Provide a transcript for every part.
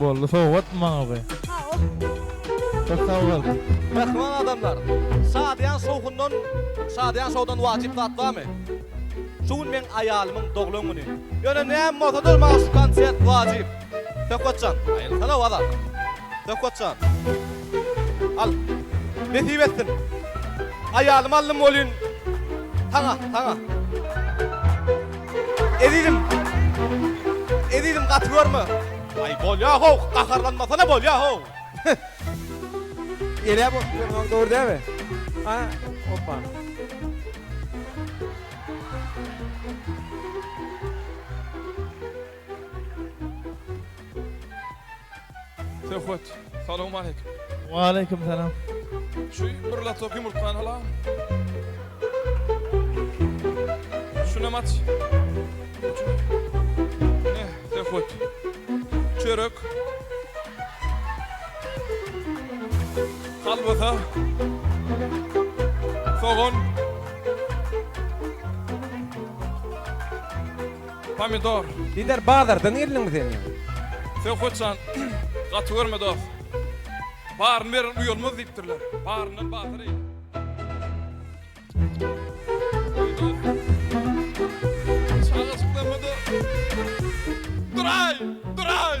Boldy sowgatmy maňa bu? Köp sag bol. Mähriban adamlar, şadyýan şowhundan, şadyýan şowdan wajyp zat barmy? Şu gün meň aýalymyň doglan güni. Ýöne näme bolsa-da maňa şu konsert wajyp. Söhbetjan, aýylsana wazar. Söhbetjan. Al. Nesip etsin. Aýalymy aldym welin, saňa, saňa. Ezizim. Ezizim gaty görme. Aý bolýa how, gaharlanmasana bolýa how. Elä bok diýen dogry dälmi? Ha, hoppa. Söhbet. Salowmaleýkim. Waleýkim salam. Şu bir lotok ýumurtgany alam. Şunam aç. Ne, söhbet. Çörek. Kalbasa. Sogan. Pomidor. Gider bazardan geldiňmi sen ýa? Sen hoşjan gaty görme dost. Baryny beren uýalmaz diýipdirler. Baryndan batyr eý. Çagajyklarmada. Duraý! Duraý!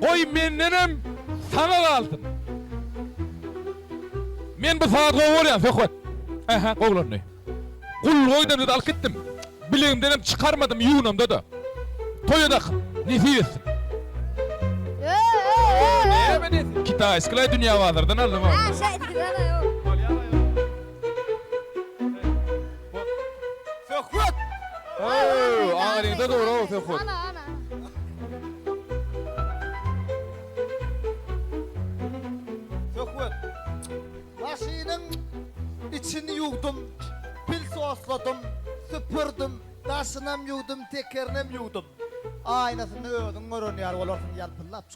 Goý mendenem saňa galsyn. Men bu saz gowy bolýar söhbet. Ähä gowlandy. Gul goýdamda-da alyp gitdim. Bilegimdenem çykarmadym ýuwnamda-da. Toýa dakyn. Nesip etsin. Näme diýsin? Kitaýskylaý dünýä bazardan aldym-ow. Söhbet! Öööö! Aňryňda dur-ow, Söhbet! Ana, ana! Söhbet! Maşynyň içini ýuwdum, pil sosladym, süpürdim, daşynam ýuwdum, tekerinem ýuwdum. Aýnasyny özüň gören ýaly bolarsyň ýalpyldap.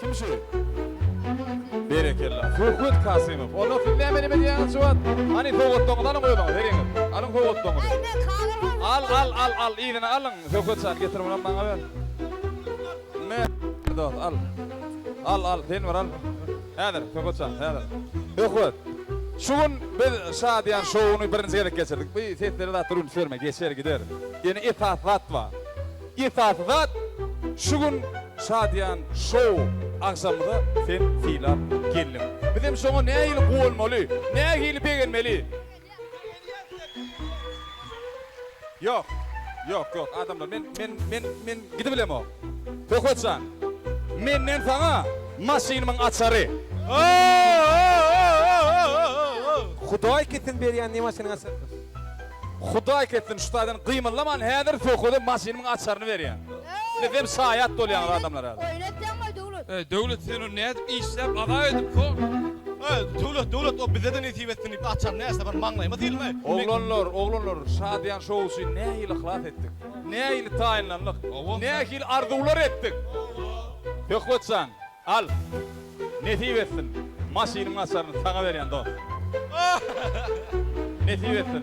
Kim şu? Berekella. Söhbet Kasymow. Onda siz näme edip edýäňiz şu wagt? Hany sowgatlaryňyzy alyň özüňiz, heriňiz. Alyň sowgatlaryňyzy. Al, al, al, al, yzyna alyň. Söhbet jan, getir munam maňa ber. Me, dost, al. Al, al, sen bir al. Häzir, Söhbet jan, häzir. Söhbet. Şu gün biz Şadyýan şowuny birinji gezek geçirdik. Bu seslere zatlara üns berme, geçer, gider. Ýöne esasy zat bar. Esasy zat şu gün şadyýan şou agşamyza sen sylap geldiň. Bizem şoňa nähili guwanmaly, nähili begenmeli? Ýok, ýok, ýok, adamlar, men, men, men, men gidibilemok. Höküet jan, menden saňa maşynymyň açary. Hudaý kesin berýän ne maşynyň açarymyş. Hudaý ketsin şu taýdan gymyldaman häzir söhbede maşynymyň açaryny berýän. Siz hem şaýat bolýaňyz adamlar häzir. Oýun etýäňoý Döwlet. Öý Döwlet sen ony nädip işläp azap edip soň. Öý Döwlet Döwlet o bizede nesip etsin diýip açar näçe bir maňlaýyma sylmy. Oglanlar oglanlar Şadyýan şou üçin nähili yhlas etdik. Nähili taýynlandyk. Nähili arzuwlar etdik. Söhbet jan. Al, nesip etsin. Maşynyň açaryny saňa berýän dost. Nesip etsin.